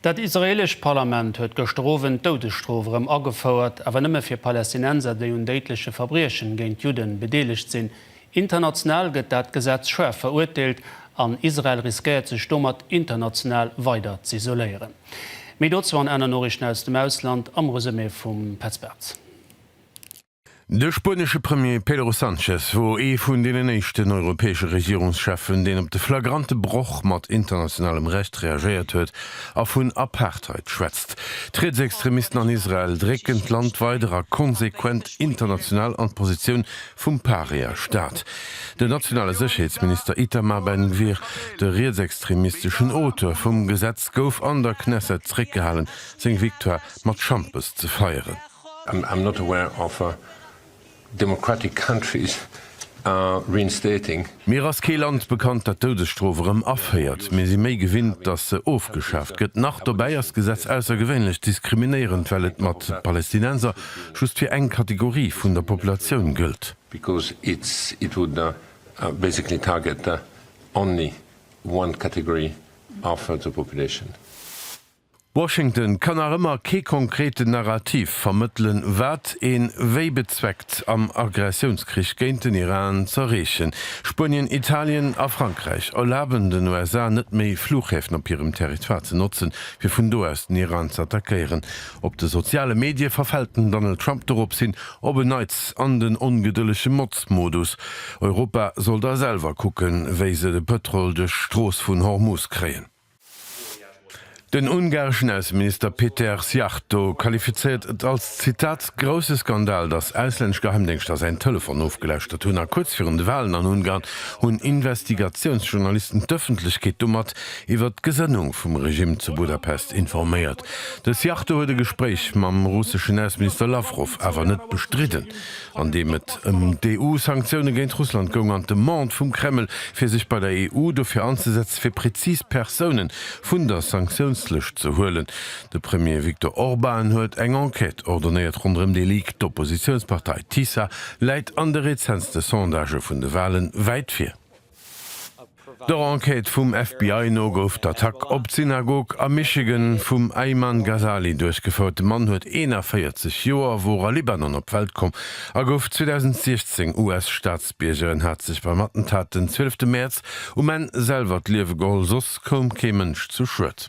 Dat israeelescht Parlament huet gëschter Owend d'Doudesstrof erëm agefouert, awer nëmme fir Palästinenser, déi un déidleche Verbriechen géint Judden bedeelegt sinn. International gëtt dat Gesetz schaarf verurteelt an Israel riskéiert sech domat international weider z'isoléieren. Méi dozou an aner Noriichten aus dem Ausland am Resumé vum Petz Bartz. De spuenesche Premier Pedro Sanchez wor ee vun deenen éischten europäesche Regierungscheffen, deen op de flagrante Broch mat internationalem Recht reagéiert huet a vun Apartheid schwätzt. D'Rietsextremisten an Israel drécken d'Land weider a konsequent international an d'Positioun vum Paria-Staat. Den nationale Sécherheetsminister Itamar Ben-Gvir, de rietsextremisteschen Auteur vum Gesetz, gouf an der Knesset zeréckgehalen, seng Victoire mat Schampes ze feieren. I'm not aware of a democratic countries reinstating. Mir ass kee Land bekannt dat d'Doudesstrof erëm aféiert. Mir si méi gewinnt datt se ofgeschaaft gëtt. Nach dobäi ass d'Gesetz aussergewéinlech diskriminéierend well et mat Palästinenser just fir eng Kategorie vun der Populatioun gëllt. Because it would basically target only one category of the population. Washington kann nach ëmmer kee konkreten Narrativ vermëttelen, wat een wéi bezweckt am Aggressiounskrich géint den Iran z'erreechen. Spuenien, Italien a Frankräich erlaben den USA net méi, Fluchhäfen op hirem Territoire ze notzen, fir vun do aus den Iran ze attackéieren. Op de soziale Medie verfält den Donald Trump doropshin op en Neits an den ongedëllege Motzmodus, Europa soll da selwer kucken, wéi se de Pëtrol duerch d'Strooss vun Hormuz kréien. Den ungareschen Ausseminister Péter Szijjarto qualifizéiert et als, Zitat, grousse Skandal, datt auslännesch Geheimdéngschter säin Telefon ofgelauschtert hunn a kuerz virun de Walen an Ungarn hunn Investigatiounsjournalisten d'Ëffentlechkeet domat iwwert d'Gesënnung vum Regimm zu Budapest informéiert. De Szijjarto huet e Gespréich mam russeschen Ausseminister Lawrow awer net bestridden. an deem et ëm d'EU-Sanktioune géint Russland goung, an d'Demande vum Kreml, fir sech bei der EU dofir anzesetzen, fir prezis Persoune vun der Sanktiounslëscht ze huelen. De Premier Viktor Orban huet eng Enquête ordonéiert ronderëm dee Leak. D'Oppositiounspartei TISA läit an de rezentste Sondagë vun de Wahlen wäit vir. Der Enquête vum FBI no gouf d'Attack op d'Synagog a Michigan vum Ayman Ghazali duerchgefouert. De Mann huet 41 Joer, wor a Libanon op d'Welt komm a gouf 2016 US-Staatsbierger. En hat sech beim Attentat den 12 Mäerz um Enn selwer d'Liewe geholl, soss koum kee Mënsch zu Schued.